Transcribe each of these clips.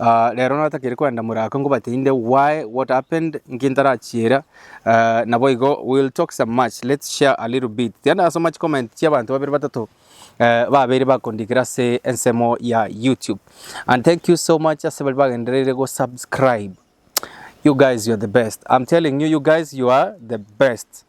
aah rero natakire koenda more aka nkobate inde why, what happened, nki ntarachiera, aah naboigo we will talk some much, let's share a little bit. Tiga ndasoma chicomment chia abanto babere batato eh babeire bakondikera ase ensemo ya YouTube. And thank you so much ase baria bagendereire go subscribe. You guys you are the best. I'm telling you, you guys you are the best.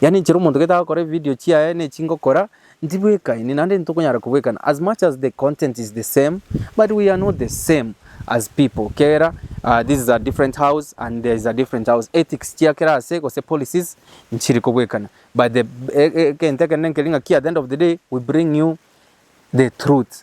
Yaani inchera omonto gete agokora ebividio chiaye na echi ngokora, ntibwekaini naende ntitokonyara kobwekana as much as the content is the same but we are not the same as people kera ah, this is a different house and there is a different house ethics chia kera ase gose policies nchiri kobwekana but the e- e- egento ekenene nkeri ng'aki at the end of the day we bring you the truth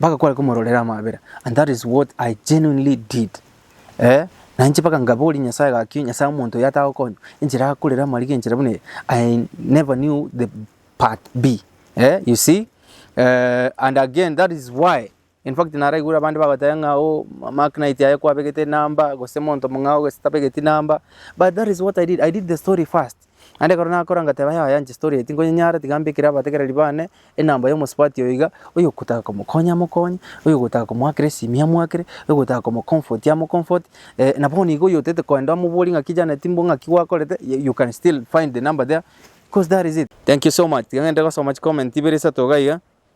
Mpaka kware komororera amabera and that is what I genuinely did eh, na inche mpaka nkaboria Nyasaye gaki, Nyasaye omonto oyo atagokonya, enchera akorera amariga enchera buna eye, I never knew the part B eh, you see eh, and again that is why in fact naraigure abande bagoteba ng'a oh, Mark Knight aye kwabegete enamba, gose monto mong'ao gose tabegeti namba, but that is what I did, I did the story first. Naende ekero nakora ngateba, Yaya inche storia eye tinkonyenyara, tiga mbekere abategereri bane enamba y'omosubati oyo iga, oyogotaka komokonya amokonye, oyogotaka komoakera esimia amoakere, oyogotaka komocomfort amocomforte, na bono iga oyotete kogenda omoborie ng'aki Janet mbo ng'aki gwakorete, you can still find the number there, coz that is it. Thank you so much, tiga ng'ende gosoma chicomment ibere isato iga iga,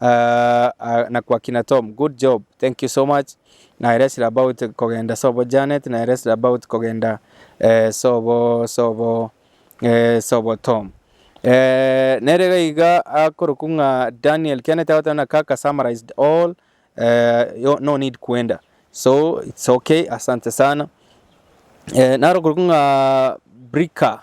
Ah, na kwa kina Tom, good job, thank you so much. Na ere esira about kogenda sobo Janet, na ere esira about kogenda eh, sobo sobo eh, sobo Tom. Eh, nere gaiga akoroku ng'a Daniel Kenneth agoteba na kaka summarized all eh, yo- no need kwenda. So it's okay, asante sana. Eh, naro koroku ng'a Brika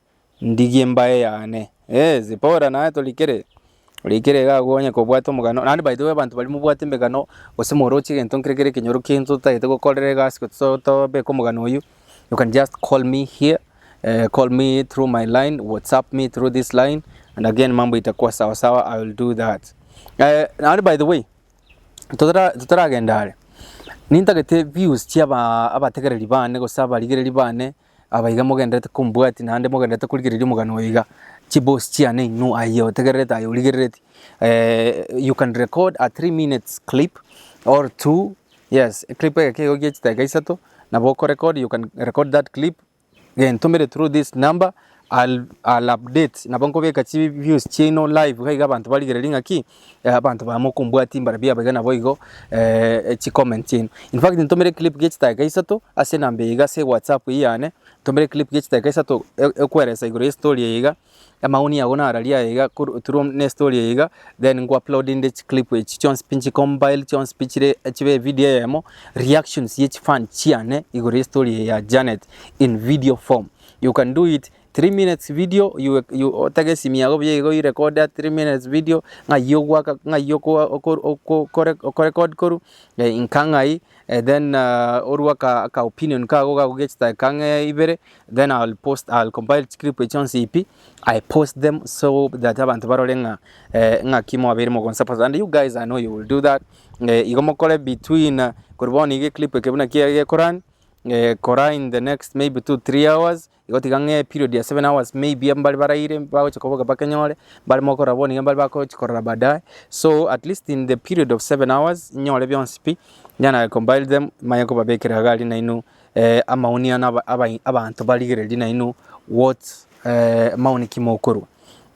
Ndigie mbae yane. Eh, Zipora naye torikere. Orikere iga agwo onye kobwate omogano. Naende by the way abanto baria mobwate emegano gose moroche egento nkere kere ekenyoro ekiaino totagete gokorera egasi gose to- tobeke omogano oyio, you can just call me here, eh, call me through my line, WhatsApp me through this line and again mambo itakuwa sawa sawa, I will do that. Eh, naende by the way, totara- totaragenda are, nintagete views chia aba- abategereri bane gose abarigereri bane Aba iga mogendererete kombwatia, naende mogendererete korigereria omogano oyo iga, chiboss chiane inwe aye otegererete aye origerereti eh, you can record a three minutes clip or two, yes, eclip egeke igo gie chidakika isato, nabo okorecord, you can record that clip, gentumere through this number, I'll update nabo nkobeka chi views chiaino live iga iga abanto barigereri ng'a ki, eh, abanto baya mokombwatia mbare biabo iga nabo igo eh, chi comment chiaino. In fact ntomera eclip gie chidakika isato ase enamba eye iga ase whatsapp eye yane, ntomera eclip gie chidakika isato e- ekweresa igoro y'estory eye iga, amaoni ago nararie aye iga kor- through buna estory eye iga, then nko upload inde chiclip echi chionsi pi nchicombile chionsi pi chire chibe evidio eyemo, reactions ye chifan chiane igoro y'estory eye ya Janet in video form. You can do it three minutes video you, you otege esimi yago buya igo you record that three minutes video ng'ai ogwaka ng'ai oko- oko- oko- okore- okorecord koru eh, inka ng'ai eh, then uh, orue aka, aka opinion kago gakogechete aka ng'e ibere then I'll post I'll compile chiclip echio nse ipi I post them so that abanto barore ng'a eh, ng'aki mwabeire mogonsupport and you guys I know you will do that eh, igo mokore between uh, kori bono iga eclip eke buna kiagekorani kora in the next maybe two three hours, igo tiga ng'a eperiod ya seven hours maybe mbare baraire bagochia koboka bakenyore, mbare mo korora bono nigo mbare bagochi korora baadaye, so at least in the period of seven hours nyore bionsi pi, then I compile them manye kobabekera iga aria nainwe amaoni ane aba abanto barigereria nainwe what maoni ki mokorwa.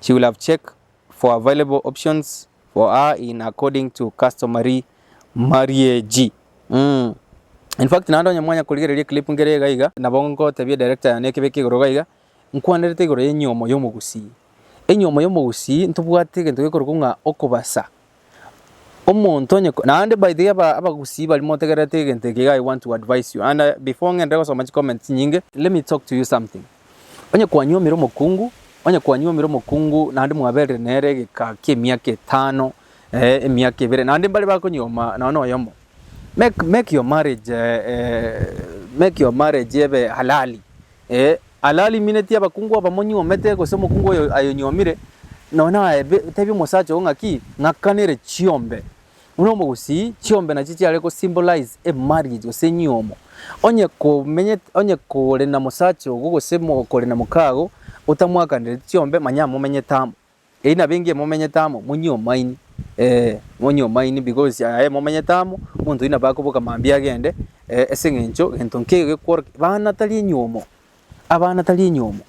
She will have check for available options for her in according to customary marriage. Mm. In fact, naende onye mwanya korigereria clip ngere iga iga, nabo ngotebia director yane ekebeke igoro iga iga, nkwanerete igoro y'enyomo y'omogusii. Enyomo y'omogusii ntobwate egento gekorokwa ng'a okobasa Omonto onye ko- naende by the way aba- abagusii baria motegererete egento eke iga I want to advise you and I- before ng'ende gosoma chicomment chinyinge, let me talk to you something. Onye kwanyuomire omokungu, onye kwanyuomire omokungu naende mwaberire nere egeka ki'emiaka etano, eh, emiaka ebere, naende mbare bakonyioma nonye na oyomo, make- make your marriage eh, make your marriage ebe halali, eh, Ararimineti abakungu abamonyuomete, gose omokungu oyo ayonyuomire, nonya aebe, otebie omosacha oo ng'aki, ng'akanere chiombe, buna omogusii, chiombe nachio chiare go symbolize a marriage gose enyuomo. Onye komenyete, onye kore na mosacha ogo gose mo, kore na mokaago otamwakanereti chiombe, manya momenyete amo. Eyi nabo engiya momenyete amo, monyie omaini, ee, monyie omaini, because aye momenyete amo, omonto oyio nabo akoboka mambia agende, eh, ase eng'encho gento nkeiyo gekworokia. Bana tari enyomo, abana tari enyomo,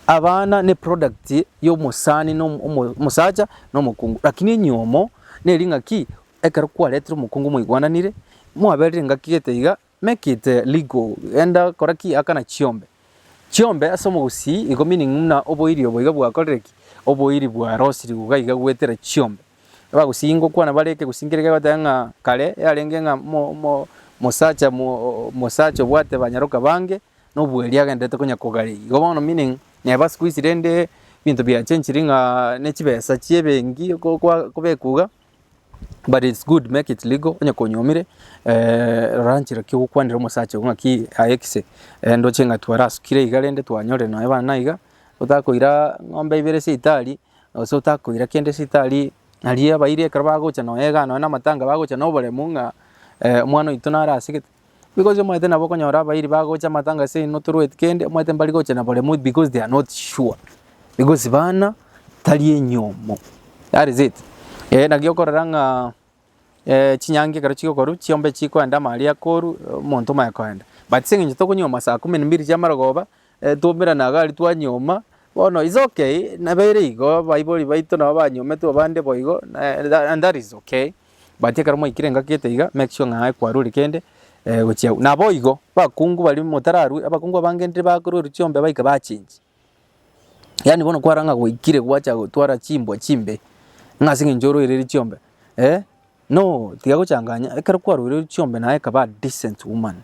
abana ne product ya omosani na omo- omo- omosacha na omokungu. Lakini enyomo neri ng'a ki, ekero kwaretire omokungu mwaigwananire, mwaberire engaki gete iga, Make it legal, genda kora ki? Akana chiombe chiombe ase omogusii igo meaning muna oboiri obo iga bwakorire ki? Oboiri bwarosiri iga iga goetera chiombe. Abagusii ngokwana bare ekegusii nkere kegoteba ng'a kare yarenge ng'a mo mo mosacha mo mosacha obwate banyaroka bange nobweeri agenderete konya kogareria. Igo bono meaning neba sikuizi rende ebinto biachenchiri ng'a ne chibesa chie ebenki ko kwa kobekwa iga but it's good make it legal onye konyuomire eh, rora nchera ki ogokwanera omosacha ogo ng'aki aye kise eh, ndoche ng'a twarasukire iga rende twanyorire nonya bana iga otakoira ng'ombe ibere esibitari gose otakoira kende esibitari aria abairi ekero bagocha nonya igaa nonya na amatanga bagocha na oboremu ng'a eh, omwana oito naro asegete. Because omanyete nabo okonyora abairi bagocha amatanga ase eino torueti kende, omanyete mbari gocha na baremwa because they are not sure, because bana tari enyomo, that is it. Eeh naki okorora ng'a chinyangi ekero chigokorwa chiombe chikoenda amaaria akoorwa, omonto omanye koenda. But ase eng'encho tokonywa masaa kumi na mbiri chiamarogoba. E twomera na gari twanyoma, bono is ok, nabeire igo, baibori baito nabo banyometwe abande boigo, na and that is ok, but ekero mwaikire engaki gete iga, make sure ng'a kwarure kende eh gochia agwo. Naboigo, bakungu baria motararue, abakungu abangenire bakorwa chiombe baika bachengi, yaani bono kwarora ng'a gwaikire gwacha gotwara chimbwa chimbe, ng'a ase eng'encho orwaire eri chiombe eh. No, tiga gochanganya, ekero kwaroire chiombe naye ekaba a decent woman.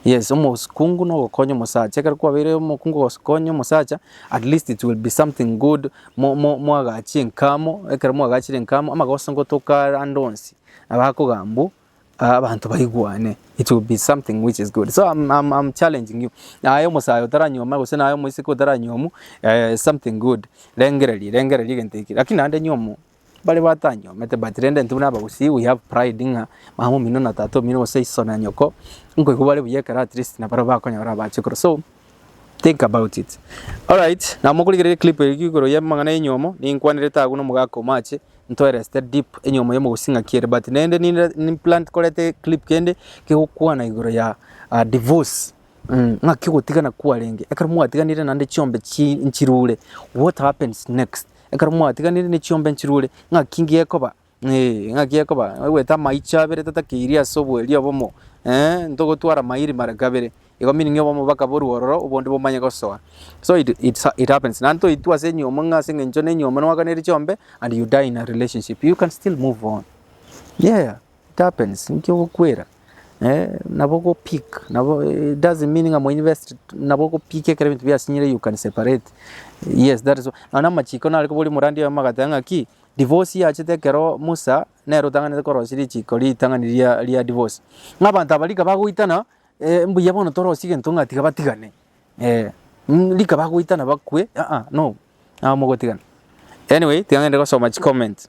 Yes, omokungu nogokonya omosacha, ekero kwabeire omokungu ogokonya omosacha, at least it will be something good, mo- mo- moagache enkamo, ekero moagachire enkamo, amagoso ngotoka are ande onsi, nabo akogamba mbu, ah abanto baigwane, it will be something which is good. So I'm- I'm- I'm challenging you, aye omosayo otaranyuoma gose naye omoiseke otaranyomu, eh something good, rengereria, rengereria egento eke, lakini naende nyomu, Bare batanyomete but rende intwe buna abagusii we have pride ng'a mama omino na tata omino gose iso na nyoko nkoigwa bare buya ekero at least nabaro bakonyora abache korwa so think about it alright na mokorigereria eclip eye igoro ya amang'ana ya enyomo ninkwanerete agwo na omogaka omoache ntoereste deep enyomo ya omogusii ng'aki ere but naende ninde nimplant koreta eclip kende kegokwana igoro ya ah, divorce Ng'aki ogotigana kwarenge ekero mwatiganire naende chiombe chi- nchirure? What happens next? Ekero mwatiganire ne chiombe nchirure, ng'aki gekoba? Eeh, ng'aki gekoba? Ogoeta amaicho abere totakeirie ase oboerio obomo, eeh, ntogotwara maili mara kabere, igo meaning obomo bakaborwa ororo, obonde bomanye gosoa. So it it's it happens, naende toitwe ase enyiomo ng'a ase eng'encho ne enyiomo nwakaneirie chiombe and you die in a relationship, you can still move on, yeah. Tapens inki ogokwera eh nabo ogo pick nabo it doesn't mean ng'a moinvest nabo ogo pick ekero ebinto biasinyire you can separate yes that is nao na amachiko nare koboria omorandi oyomo agateba ng'aki divorce yachete ekero Musa nere otang'anete korosia richiko ritang'ani ria ria divorce. Ng'a abanto aba rika bagoitana eh mbuya bono torosie egento ng'a tiga batigane eh mm rika bagoitana bakwe aa no nabo mogotigana. Anyway tiga ng'ende gosoma chicomment.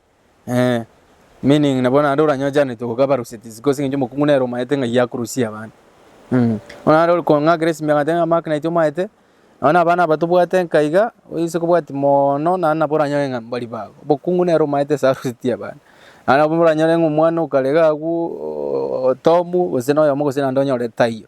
Ee, meaning nabo naende oranyochanetie gokaba ruseti is causing eng'encho omokungu nere omaete ng'ai akorusia abana. Mh, bono naende ore kong'akera esimia gati ng'a mark naitwe omaete, nonye na abana aba tobwate nka iga, oise kobwati moono naende nabo oranyore ng'a mbari bago. Obokungu nere omaete ase arusetie abana. Naende nabo moranyore ng'a omwana okarega agwo oo Tomu, gose na oyomo gose naende onyore taiyo.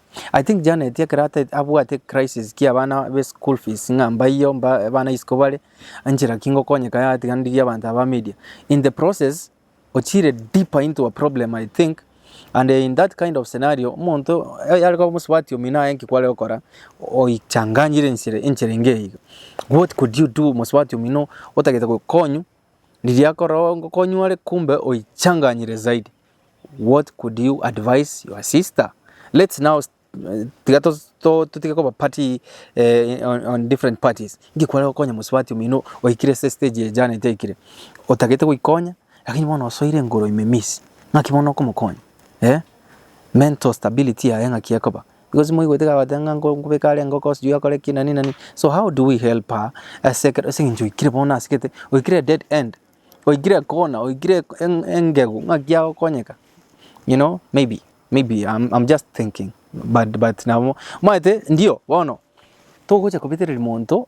I think Janet ekero ata- abwate crisis kia abana be school fees ng'a mbaiyo mba abana isiko bare, enchera ki ngokonyeka yatiganirie abanto aba media. In the process, ochire deeper into a problem I think, and in that kind of scenario, omonto eh, aria koba omosubati omino aye nki kware gokora, oichanganyire enchera enchera enge iga. What could you do mosubati omino otagete gokonywa, riria akorora ngokonywa are kumbe oichanganyire zaidi. What could you advise your sister? Let's now eh, tiga to- to- totige koba party eh, on, on different parties ngikware gokonya mosubati omino oikire se stage ye jana etaikire otagete goikonya lakini bono osoire engoro ime miss ng'aki bono okomokonya eh? mental stability yaye ng'aki ekoba because moigwete kagote ng'a nko- nkobeka are engoko sijui akore ki nani nani so how do we help her ase ekero ase eng'encho oikire bono asegete oikire dead end oikire kona oikire engegu ng'aki agokonyeka you know maybe maybe I'm just thinking but but nabo omanyete ndio bono togocha kobetereria monto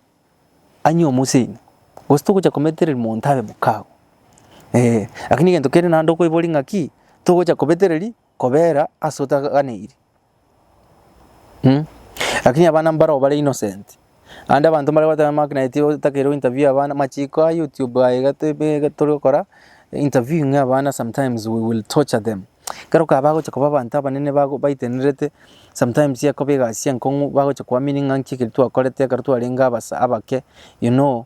anywe omoseini gose togocha kometereria monto abe mokago eh, lakini egento kende naende okoiboria ng'aki togocha kobetereria. Kobera ase otaganeiri. Mh. Lakini abana mbarao bare innocent. Ande abanto mbare goteba Mark naye tigo otakeirwe interview abana machiko a YouTube aye iga te- be- iga tore gokora interview ng'a abana sometimes we will torture them. Ekero ka bagocha koba abanto abanene bago baitenerete sometimes ekoba egasi enkong'u bagocha koamini ng'a nki ekeri twakorete ekero twarenge abasa abake you know.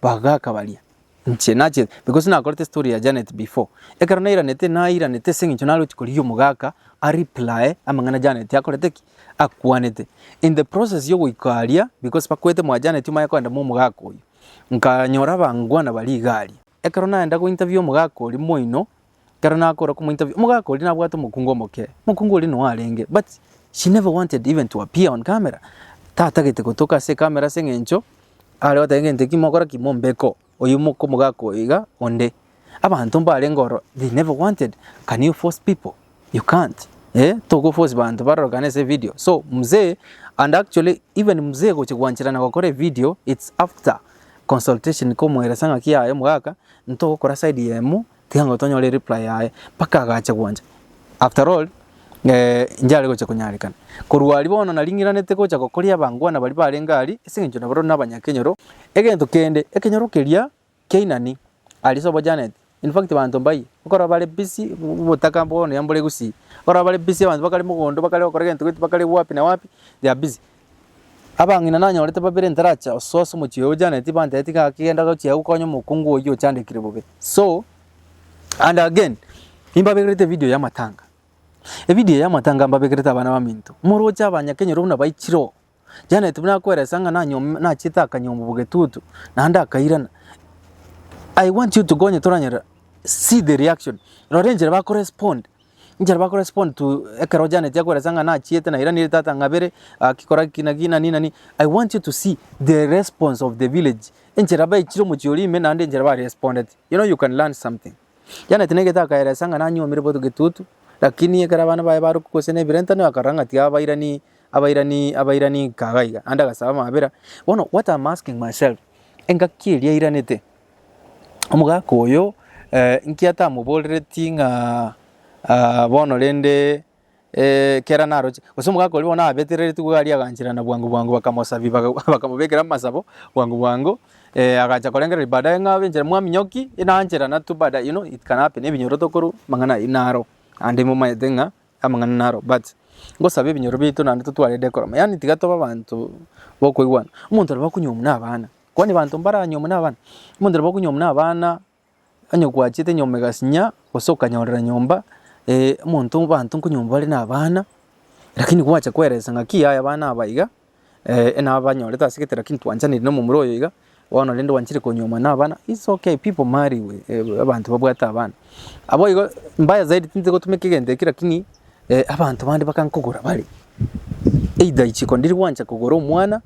Bagaka baria. Inche nache, because nakorete story ya Janet before, ekero nairanete nairanete ase eng'encho nare gochia korigia omogaka a replye amang'ana Janet akorete ki? Akwanete. In the process ya ogoika aria, because bakwete mwa Janet omanye kogenda mwa omogaka oyio, nkanyora abangwana baria iga aria. Ekero naenda gointerview omogaka oria moino, ekero nakora komo interview, omogaka oria nabwate omokungu omoke, omokungu oria noyo arenge but she never wanted even to appear on camera, tatagete gotoka ase ecamera ase eng'encho are goteba egento ekio mokora ki? Mombeka oo, oyio moka omogaka oyo iga onde. Abanto mbarenge ororo they never wanted, can you force people? You can't eh, toko force banto barorokane ase evidio, so mzee and actually even mzee gochia gwancherana gokora evidio it's after consultation komoelesa ng'aki yaye omogaka, ntogokora side yemo Tiga ngo tonyore ereply yaye mpaka agache gwancha after all injare gocha konyarekana. Korwa aria bono naringeranete gocha gokoria abangwana baria barenge aria ase engencho nabarore nabanyakenyoro. Egento kende ekenyoro keria kia Inani aria sobo Janet in fact banto mbaye okorora bare busy obotaka bono yambora egusii. Okorora bare busy abanto bakare mogondo bakare gokora egento gento bakare wapi na wapi they are busy. Abang'ina nanyorete babere ntaracha osoose omochie oyo Janeti banteeti gaki genda gochia gokonya omokungu oyio ochandekire bobe so and again imbabegerete evideo ya matanga evideo ya matanga mbabegerete abana baminto moroche abanyakenyoro buna baichire oo Janeti buna akweresa ng'a nanyom nachete akanyomba bogetutu naende akairana I want you to go onye toranyora see the reaction rora enchera bakorespond. Inchera ba correspond to ekero ojaneti akoelesa ng'a nachiete na iranire tata ng'abere agakikora ki na ki nani nani I want you to see the response of the village enchera baichire omochie oria ime naende enchera ba respondete you know you can learn something. Janet naigete akaelesa ng'a nanyuomire botuko etutu lakini ekero abana baye baruka gose na ebirentanio akarora ng'a tiga abairani abairani abairani nkaga iga naende agasaba amabera. Bono what am asking myself engaki eria yairanete Omogaka oyo nkiatamoborereti ng'a bono rende ekero naroche, gose omogaka oria bono nabeterereti iga aria aganchera na bwango bwango bakamosabia bakamobekera amasabo bwango bwango agacha korengereria baadaye ng'a abe inchera mwami nyoki inanchera na tu baadaye you know it can happen ebinyoro tokorwa amang'ana ayio naro naende momaete ng'a. amang'ana naro but ngosabe ebinyoro biaito naende totwarerete ekorama yaani tiga tobe abanto bokoigwana. Omonto nabo akonywa omwe na abana, kwani abanto mbaranywe omwe na abana? Omonto nabo akonywa omwe na abana onye gwachiete nyomba egasinya gose okanyorera nyomba omonto abanto nkonywa mbare na abana lakini gwacha kweresa ng'aki yaya abana aba iga. nabanyorete ase egetera ki ntwanchaneire na omomura oyo iga, bono rende gwanchire konyuomwa na abana, it's okay people marry we abanto babwate abana. Abwo igo mbaya zaidi tinche gotumeka egento ekio lakini abanto bande bakankogora bare, either richiko ndiria gwancha kogora omwana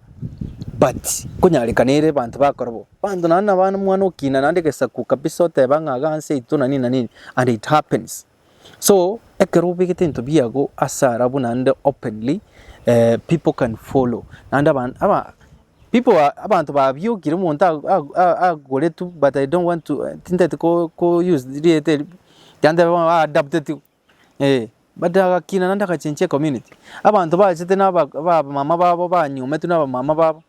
but konyarekana ere abanto bakora bo, abanto naende nabana omwana okina naende egesaku kabisa oteba ng'a iga ase yaito na nini na nini and it happens. So ekero obegete ebinto biago ase ara buna ande openly people can follow naende abanto babiokire omonto agoretwe but I don't want to tintagete ko use rieta erio ekiagera tebe bono aadaptetiwe eh but agakina naende agachenchia ecommunity abanto bachete na abamama babo banyometwe na abamama babo.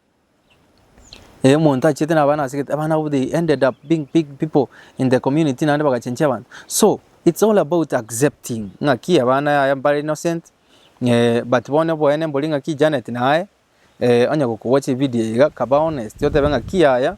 Eh omonto achiete na abana ase egete abana abwo they ended up being big people in the community naende bagachenchia abanto. So it's all about accepting ng'aki abana yaya mbare innocent eh but bono oboene mbori ng'aki Janet naye eh onye gokogocha ebidio iga kaba honest otebe ng'aki yaya.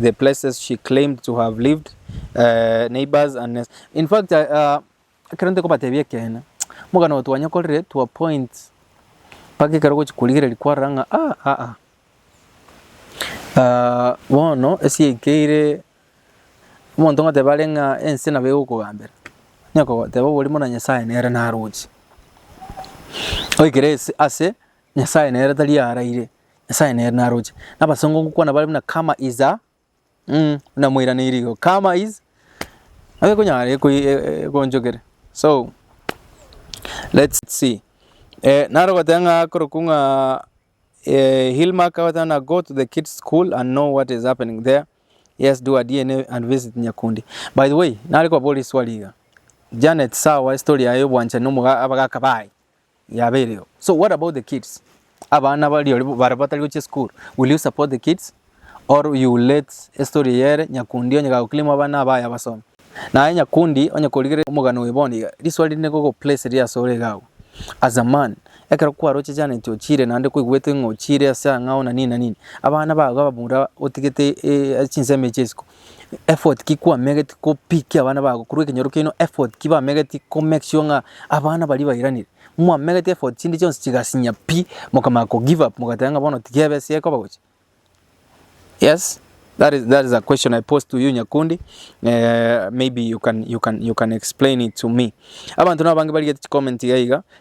the places she claimed to have lived, eh, neighbors and nes- in fact I, uh, ekero ntekobatebia ekeene omogano oyo twanyekorire to a point mpaka ekero gochi korigereria kwarora ng'a ah, ah, ah. Ah, bono esiaikeire omonto ngoteba are ng'a ense nabo egokogambera nekogoteba oboria buna nyasaye nere naroche oikere ase- ase nyasaye nere tari araire. Nyasae nere naroche. Na abasongo ngokwana bare buna karma is a mm, buna moiraneiri igo. Karma is nabo ekonyara eko- e- ekonchokere. So let's see. Eh, naro goteba ng'a korokwa ng'a eh, Hillmark agoteba na go to the kids school and know what is happening there. Yes, do a DNA and visit Nyakundi. By the way, nare kobabora iswali iga. Janet, sawa, story yaye obwanchani omoga abagaka baye. Yabeireo. So what about the kids? Abana bario bare batari gochia school. Will you support the kids? Or you will let estory eye ere Nyakundi onye gagoclaim abana aba aye abasome? Naye Nyakundi onye korigere omogano oye bono iga, riswali rinde ngogoplace riri asore iga agwo. As a man, ekero kwaroche Janet ochiire naende kweguete ng'a ochiire ase ang'ao na nini na nini, abana bago abamura otigete chinsemo echio isiko, effort ki kwamegeti ko pick abana bago korwa ekenyoro keino, effort ki bamegeti ko make sure ng'a abana baria bairanire, mwamegeti effort chinde chionsi chigasinya pi, mokamanya ko give up mogateba ng'a bono tiga ebe ase ekoba gocha. Yes, that is that is a question I pose to you Nyakundi, maybe you can you can you can explain it to me. Abanto nabange barigetie chicomment iga iga,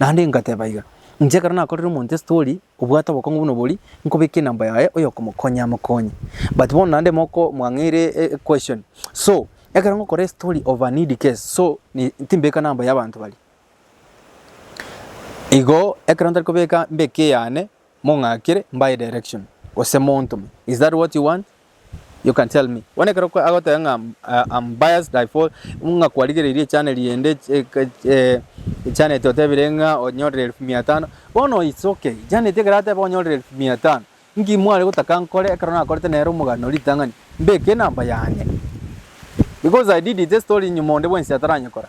Naende ngateba iga, Inche ekero nakorire omonto estori obwate obokong'u buna obori, nkobeke enamba yaye oyokomokonya amokonye. But bono naende moko mwang'eire e- e question. So, ekero ngokora estori of an eid case, so ni- timbeka namba y'abanto baria. Igo, ekero ntari kobeka, mbeke eyane, mong'akere mbae direction gose montome is that what you want you can tell me bono ekero agoteba ng'a am biased I fall ng'a kwarigereirie echaneri ende echannel ete otebire ng'a onyorire elfu mia tano bono it's okay janet ekero ateba onyorire elfu mia tano nki mware gotaka nkore ekero nakorete nere omogano ritang'ani mbeke enamba yane because I did it estori nyuma onde bwensi ataranyekora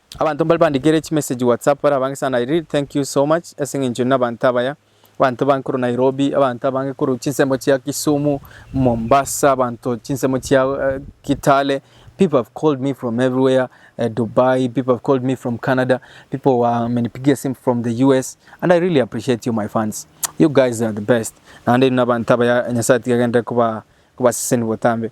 Abanto mbare bandikere chimessage WhatsApp bare abange sana I really thank you so much ase eng'encho na abanto abaya abanto abange korwa Nairobi abanto abange korwa chinsemo chia Kisumu, Mombasa abanto chinsemo chia eh, Kitale people have called me from everywhere eh, Dubai people have called me from Canada people wamenipigia simu from the US and I really appreciate you my fans you guys are the best naende na abanto abaya Nyasaye atiga agenderere kuba kubaseseni botambe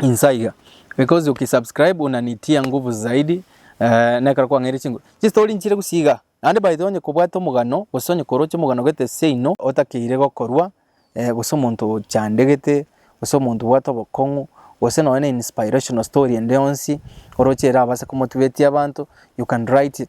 Inse aiga. Because uki subscribe unanitia nguvu zaidi eh, nekero kwang'eire chinguru. Chistori nchire gusiga. Naende by the way onye kobwate omogano gose onye koroche omogano gete seino otakeire gokorwa eh, gose omonto ochandegete gose omonto obwate obokong'u gose nonya na inspirational story ende yonsi oroche erabase komotibetia abanto you can write it.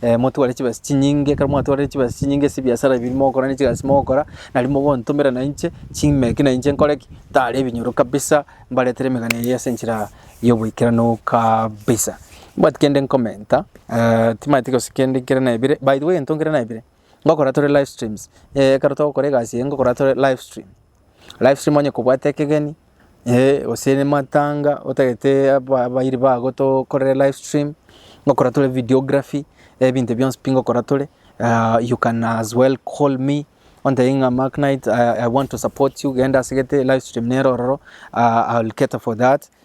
Eh, motware chibesa chinyinge, ekero mwatwarire chibesa chinyinge ase ebiasara ebi mogokora ne chigasi mogokora, nari mogontomera na inche, chime eki na inche nkore ki? Ntare ebinyoro kabisa, mbaretere emegano eyio ase enchera y'oboikeranu kabisa. Mbwati kende nkomenta, timanyeti gose kende nkere naebire, by the way egento nkere naebire, ngokora tore live streams, ekero togokora egasi eye ngokora tore live stream. Live stream onye kobwate ekegeni, eh gose ne matanga otagete aba abayiri bago tokorere live stream, ngokora tore videography, ebinto ebio bionsi pi ngokora tore you can as well call me ontebie ng'a Mark Knight I want to support you genda asegete live stream nero ororo I will cater for that.